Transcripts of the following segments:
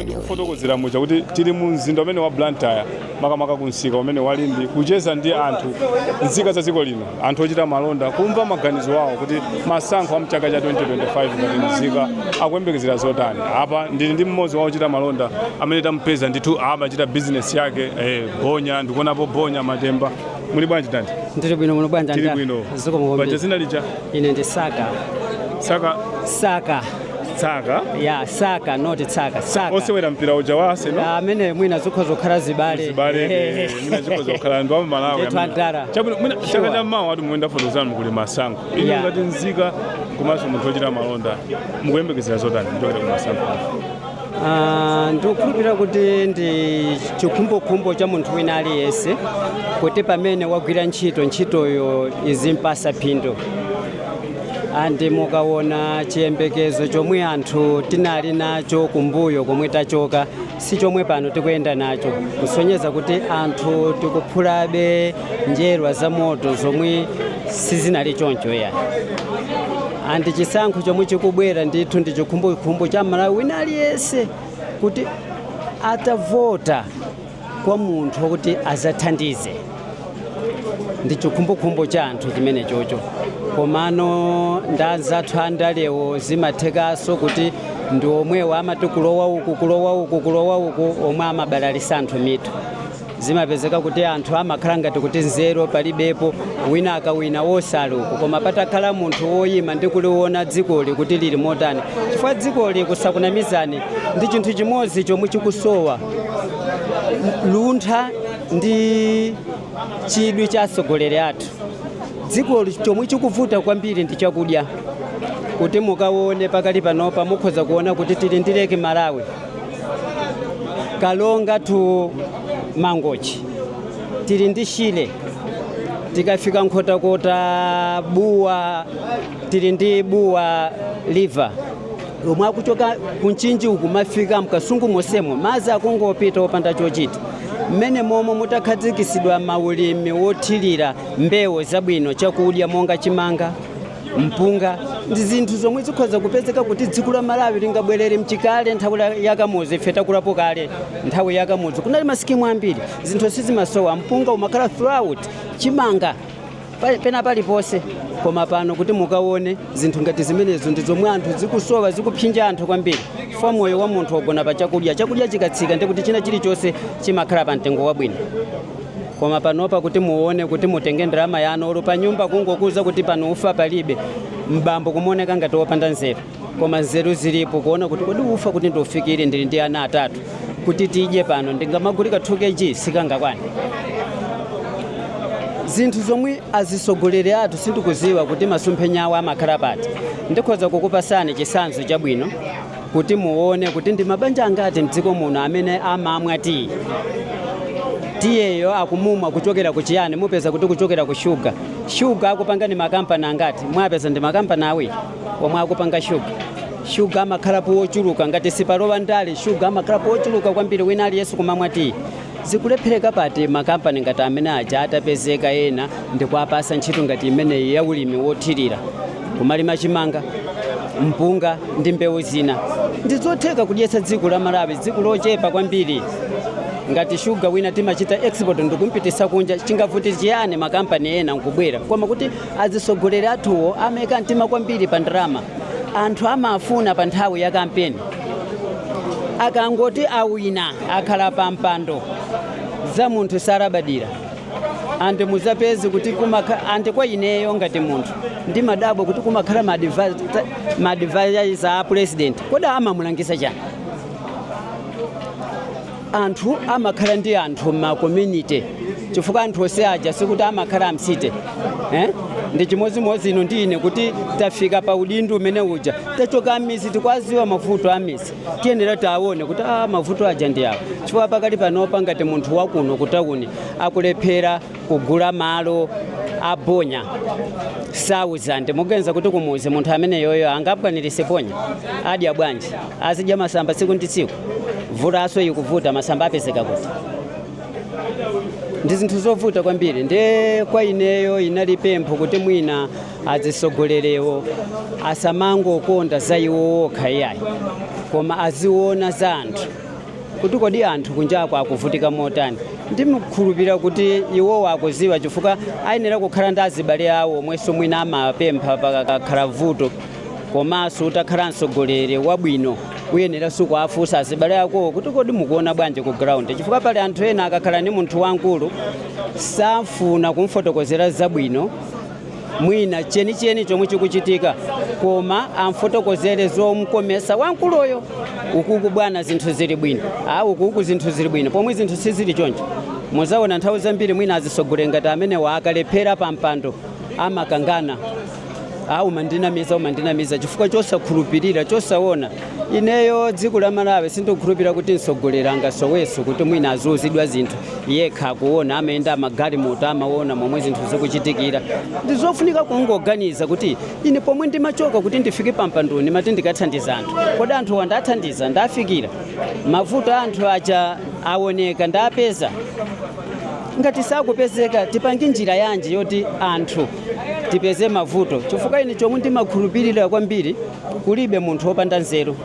ndikufotokozera muja kuti tili mu mzinda umene wa blantyre makamaka ku msika umene wa Limbe kucheza ndi anthu nzika za dziko lino anthu ochita malonda kumva maganizo awo kuti masankho a mchaka cha 2025 ngati mzika akuyembekezera zotani apa ndili ndi mmodzi wa ochita malonda amene tampeza ndithu amachita bizinesi yake eh, bonya ndikuonapo bonya matemba Muli bwanji dad? Ndili bwino muli bwanji Tili kaya bwino. Ziko Paja mukombe. dzina lija Ine ndi Saka. saka Saka. tsaka Ya, Saka not Tsaka. Saka. osewera mpira uja wa Arsenal Ah, amene mwina zikhoza kukhala zibale. zibale eh, mwina zikhoza kukhala ndi wa Malawi. Ndithu andara. Chabwino mwina Sure. chaka cha mawa monga ndafotokoza muja kuli masankho. Inu Yeah. ngati nzika komanso munthu ochita malonda mukuyembekezera zotani kuchokera ku masankho. Ah, ndikukhulupirira kuti ndi chikhumbokhumbo cha munthu wina aliyense kuti pamene wagwira ntchito ntchitoyo izimpasa phindu andi mukaona chiyembekezo chomwe anthu tinali nacho kumbuyo komwe tachoka si chomwe pano tikuyenda nacho kusonyeza kuti anthu tikuphulabe njerwa za moto zomwe sizinali choncho ya andi chisankho chomwe chikubwera ndithu ndi chikhumbokhumbo cha mmalawi wina aliyense kuti atavota kwa munthu wakuti azathandize ndi chikhumbokhumbo cha anthu chimene chocho komano ndanzathu andalewo zimathekanso kuti ndi omwewo amati kulowa uku kulowa uku kulowa uku omwe amabalalisa anthu mitu zimapezeka kuti anthu amakhala ngati kuti nzeru palibepo wina akawina wosaluka koma patakhala munthu woyima ndi kuliona dzikoli kuti lili motani chifukwa dzikoli kusakunamizani ndi chinthu chimodzi chomwe chikusowa luntha ndi chidwi cha atsogoleri athu dzikoli chomwe chikuvuta kwambiri ndi chakudya kuti mukaone pakali panopa mukhoza kuona kuti tili ndi Lake Malawi Karonga to Mangochi tili ndi Shire, tikafika Nkhotakota Bua tili ndi Bua River lomwe akuchoka ku Mchinji uku kumafika m'Kasungu monsemo madzi akungopita opanda chochita mmene momo mutakhazikisidwa maulimi wothirira mbewu zabwino chakudya monga chimanga mpunga ndi zinthu zomwe zikhoza kupezeka kuti dziko la malawi lingabwerere mchikale nthawi la- ya Kamuzu ife takulapo kale nthawi ya Kamuzu kunali masikimu ambiri zinthu sizimasowa mpunga umakhala throughout chimanga pa- pena paliponse koma pano kuti mukaone zinthu ngati zimenezo ndi zomwe anthu zikusowa zikuphinja anthu kwambiri fo moyo wa munthu wagona pa chakudya chakudya chikatsika ndikuti china chilichonse chimakhala pa mtengo wabwino koma panopa kuti muone kuti mutenge ndalama yanu olo pa nyumba kungokuuza kuti pano ufa palibe mbambo kumuoneka ngati wopanda nzeru koma nzeru zilipo kuona kuti kodi ufa kuti ndiufikire ndili ndi ana atatu kuti tidye pano ndingamagule ka 2 kg sikangakwane zinthu zomwe azisogoleri athu sindikuziwa kuti masomphenya awo amakhala pati ndikhoza kukupatsani chitsanzo chabwino kuti muone kuti ndi mabanja angati mdziko muno amene amamwa tiyi. Tiyeyo akumumwa kuchokera ku chiyani? Mupeza kuti kuchokera ku shuga. Shuga akupanga ndi makampani angati? Mwapeza ndi makampani awiri omwe akupanga shuga. Shuga amakhalapo wochuluka ngati sipalowa ndale, shuga amakhalapo wochuluka kwambiri wina aliyense kumamwa tiyi. Zikulephereka pati makampani ngati amene aja atapezeka ena ndikuwapatsa ntchito ngati imeneyi ya ulimi wothirira? Kumalima chimanga, mpunga ndi mbewu zina ndizotheka kudyetsa dziko la Malawi, dziko lochepa kwambiri. Ngati shuga wina timachita export ndikumpititsa kunja, chingavuti chiyani makampani ena nkubwera? Koma kuti azisogoleri athuwo amaika mtima kwambiri pa ndalama. Anthu amafuna pa nthawi ya kampeni akangoti awina. akhala pa mpando za munthu salabadira and muzapeza kuti kumakha- and kwa ineyo ngati munthu ndimadabwa kuti kumakhala ma advi- ta- ma advisors a president kodi amamulangiza chani anthu amakhala ndi anthu ma community chifukwa anthu onse aja sikuti amakhala amsite eh? ndi chimodzimodzi inu ndi ine kuti tafika pa udindo umene uja tachoka mmizi tikuwaziwa mavuto a mmizi tiyenera tione kuti a ah, mavuto aja ndi awo chifukwa pakali panopa ngati munthu wakuno kutawuni akulephera kugula mulu wa bonya sauzande muganiza kuti kumuzi munthu ameneyoyo angakwanirise bonya adya bwanji azidya masamba tsiku ndi tsiku vula yaso ikuvuta masamba apezeka kuti ndi zinthu zovuta kwambiri nde kwa ineyo inali pempho kuti mwina azisogoleriwo asamangokonda za iwo okha iyayi koma aziona za anthu kuti kodi anthu kunjako akuvutika motani ndikukhulupirira kuti iwowo akuziwa chifukwa ayenera kukhala ndi azibale awo omwenso mwina amapempha pakakhala vuto komanso utakhala mtsogoleri wabwino uyenera uziwafunsa azibale akowo kuti kodi mukuona bwanji ku ground chifukwa pali anthu ena akakhala ndi munthu wamkulu safuna kumfotokozera zabwino mwina chenicheni chomwe chikuchitika koma amfotokozere zomkomesa wamkuluyo ukuku bwana zinthu zili bwino a ukuku zinthu zili bwino pomwe zinthu sizili choncho muzaona nthawi zambiri mwina azisogoleri ngati amenewa akalephera pa mpando amakangana a umandinamiza umandinamiza chifukwa chosakhulupirira chosaona Ineyo dziko la Malawi sindikukhulupirira kuti mtsogoleri angasowenso kuti mwina aziuzidwa zinthu yekha akuona, amayenda magalimoto amaona momwe zinthu zikuchitikira. Ndizofunika kungoganiza kuti ine pomwe ndimachoka kuti ndifike pampando ndimati ndikathandiza anthu. Kodi anthuwa ndathandiza? Ndafikira? Mavuto a anthu aja aoneka? Ndapeza? Ngati sakupezeka tipange njira yanji yoti anthu tipeze mavuto chifukwa ine chomwe ndimakhulupirira kwambiri Kulibe munthu wopanda nzeru,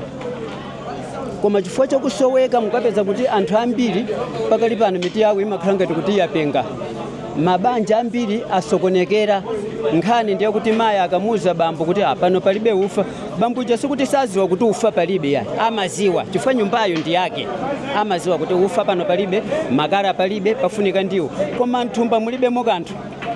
koma chifukwa cha kusoweka mukapeza kuti anthu ambiri pakali pano mitu yawo imakhala ngati kuti yapenga. Mabanja ambiri asokonekera. Nkhani ndi yakuti mayi akamuuza bambo kuti "Ah, pano palibe ufa, bambo uja sikuti saziwa kuti ufa palibe ayi amaziwa chifukwa nyumbayo ndi yake, amaziwa kuti ufa pano palibe, makala palibe, pafunika ndiwo, koma mthumba mulibemo kanthu.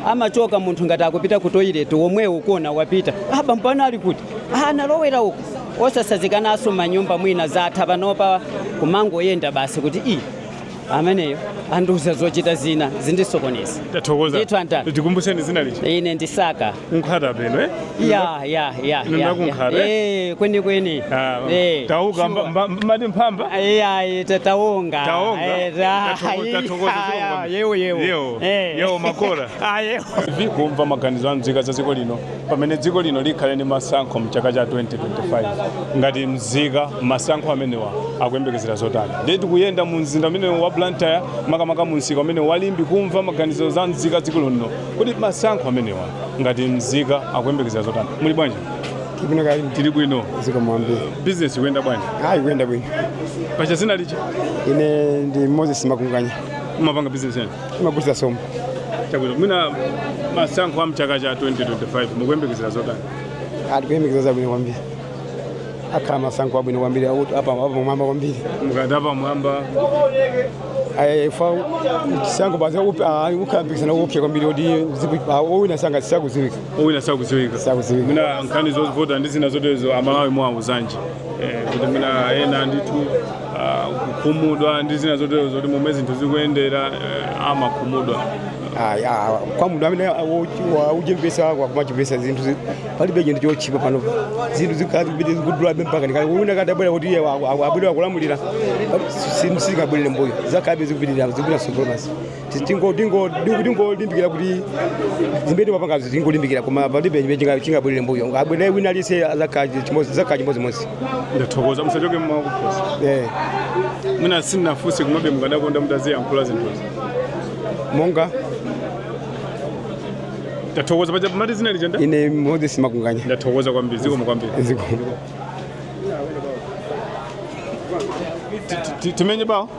amachoka munthu ngati akupita ku toilet womwewo kuona wapita ah, bambo ako ali kuti ah, analowera uku osasazikanaso manyumba mwina zatha panopa kumangoyenda basi kuti i ameneyo andiuza zochita zina zondisokoneza Tathokoza. Ndithu antani. Tikumbutseni dzina lija. ine ndi wa ku Nkhata Bay eh. ya ya ya Inu ya, nda ku Nkhata Bay. eh kweni kweni Ah, Eh, tawuka sure. mba- mba- mbati mphamba Ai, ai, ta- taonga Taonga? Eh, ta- Tathoko- ai, tathokoza ai, chikondi. ai, yewo yewo Yewo. Eh. Yewo makora. Ah, yewo tikumva maganizo a mzika za dziko lino pamene dziko lino likhale ndi masankho mchaka cha 2025 ngati mzika masankho amenewa akuyembekezera zotani ndiye tikuyenda mu mzinda umene wa Blantyre makamaka mu msika umene wa Limbe kumva maganizo za mzika dziko lino Kodi masankho amenewa ngati mzika akuyembekezera zotani? Muli bwanji? Tili bwino kaya inu Tili bwino. Zikomo kwambiri. Business ikuyenda bwanji? Ayi ikuyenda bwino. Paja dzina lija? Ine ndi Moses Makunganya. Mumapanga business yanji? Ndimagulitsa sopo. Chabwino. Mwina masankho a mchaka cha 2025 mukuyembekezera zotani? Ah tikuyembekezera zabwino kwambiri. akhala masankho abwino kwambiri akuti apa- apamwamba kwambiri mukati apamwamba Eh, fa chisankho basi akup- ah, kukhala mpikisano wopsa kwambiri kuti ziku- ah, owina sanga sakudziwika owina sakudziwika Sakudziwika. mwina nkhani zovota ndi zina zotezo amalawi muwauzanji Eh, kuti mwina ena ndithu ah, kukhumudwa ndi zina zotezo zoti momwe zinthu zikuyendera eh, amakhumudwa Ah, ah, kwa munthu amene akuzimvetsa kumazimvetsa zinthu zi- palibe chinthu chotchipa pano zinthu zikapite zikudulabe ngakhale wina atabwera kuti iye wa- wa- abwere akulamulira sizikabwerera mbuyo zizakhalabe zikupitirira zikupita tsogolo basi tingolimbikira kuti zimene timapanga tingolimbikira koma palibe chimene chinga- chingabwerere mbuyo abwere wina aliyense zikhala chimodzi zikhala chimodzimodzi ndathokoza musachoke mawu akuposa Eh, mwina sindinafunse komabe mukadakonda mutayankhula zinthuzi monga Ndathokoza paja mumati dzina lija ndani. Ine Moses Makunganya. Ndathokoza kwambiri zikomo kwambiri. Zikomo. Timenye bao.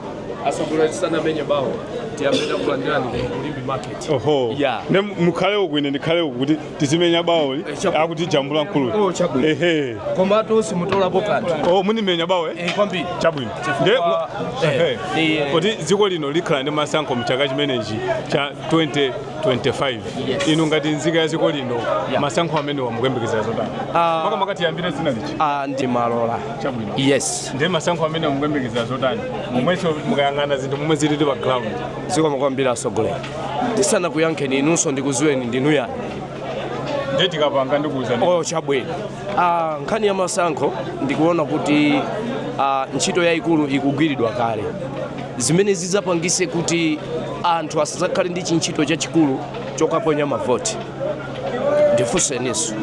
Asogolera tisanamenye bao. Tiyambira kulandirani ku Limbe market. Oho. Yeah. Nde mukhale uku ine ndikhale uku kuti tizimenya baoli. Eh, Akutijambula mkulu. Oh chabwino. Ehe. Koma to simutola bokati. Oh mumamenya bao eh. Eh kwambiri. Chabwino. Nde eh. Kuti dziko lino likhala ndi masankho mchaka chimenechi cha 20 25 yes. inu ngati nzika ya dziko lino yeah. masankho amenewa mukuyembekezera zotani uh, ah. makamaka tiyambire dzina lija uh, ah, ndi Malola chabwino yes ndi masankho amenewa mukuyembekezera zotani momwenso mukayang'ana zinthu momwe zilili pa ground zikomo kwambiri asogolera ndisanakuyankheni inunso ndikuziweni ndinu ndani nde tikapanga ndikuuzani oh, chabwino Ah, nkhani ya masankho ndikuona kuti ah, ntchito yayikulu ikugwiridwa kale zimene zidzapangise kuti anthu asadzakhale ndi chintchito chachikulu chokaponya mavoti ndifunsenso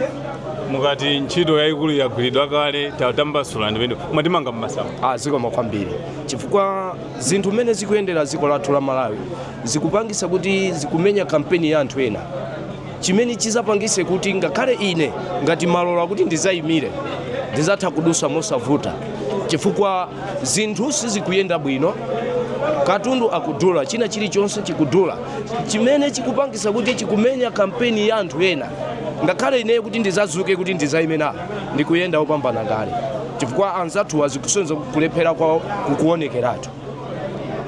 mukati ntchito yayikulu yagwiridwa kale tatambasulani mmene mwatimanga mmasamba ah, zikomo kwambiri chifukwa zinthu mmene zikuyendera dziko lathu la Malawi zikupangisa kuti zikumenya kampeni ya anthu ena chimene chizapangise kuti ngakhale ine ngati Malola kuti ndizayimire ndizatha kudusa mosavuta chifukwa zinthu sizikuyenda bwino katundu akudula china chilichonse chikudula chimene chikupangisa kuti chikumenya kampeni ya anthu ena ngakhale ineyo kuti ndizazuke kuti ndizayime nawo ndikuyenda opambana kale chifukwa anzathuwa zikusonyeza kulephera kwawo kukuonekeratu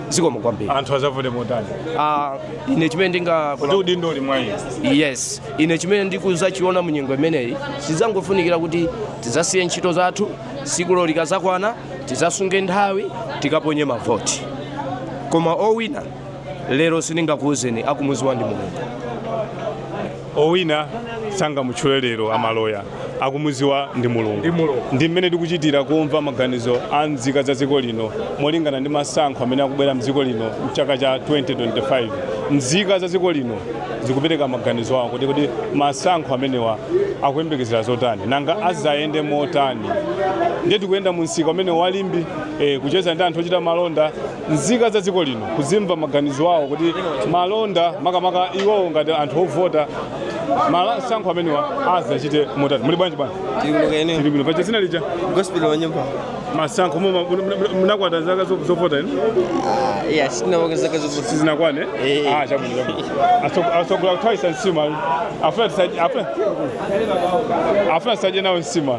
zikomo kwambiri anthu azavote motani Ah, ine chimene ndinga kuti udindo uli mwa iye yes ine chimene ndikuzachiona mu nyengo imeneyi zidzangofunikira kuti tidzasiye ntchito zathu sikulo likazakwana tidzasunge nthawi tikaponye mavoti koma owina lero sindingakuuzeni akumuziwa ndi mulungu owina sangamutchule lero a Malola akumuziwa ndi mulungu ndi mmene tikuchitira kumva maganizo a nzika za dziko lino molingana ndi masankho amene akubwera mdziko lino mchaka cha 2025 nzika za dziko lino zikupereka maganizo awo kuti kodi masankho amenewa akuyembekezera zotani nanga azayende motani ndiye tikuyenda mu msika umene wa Limbe eh, kucheza ndi anthu ochita malonda nzika za dziko lino kuzimva maganizo awo kuti malonda makamaka iwowo ngati anthu ovota masankho amenewa azachite motani muli bwanji bwana Tilukeni. tili bwino paja dzina lija Gospel wa nyumba. masankho muma- muna- muna- munakwana zaka zo- zovota inu Ah, iya, sina waka zaka zovota. sizinakwane Eh, eh. Ah, chabwino chabwino Aso- asogola kuthawitsa nsima afuna tisadye- afuna- afuna tisadye nawo nsima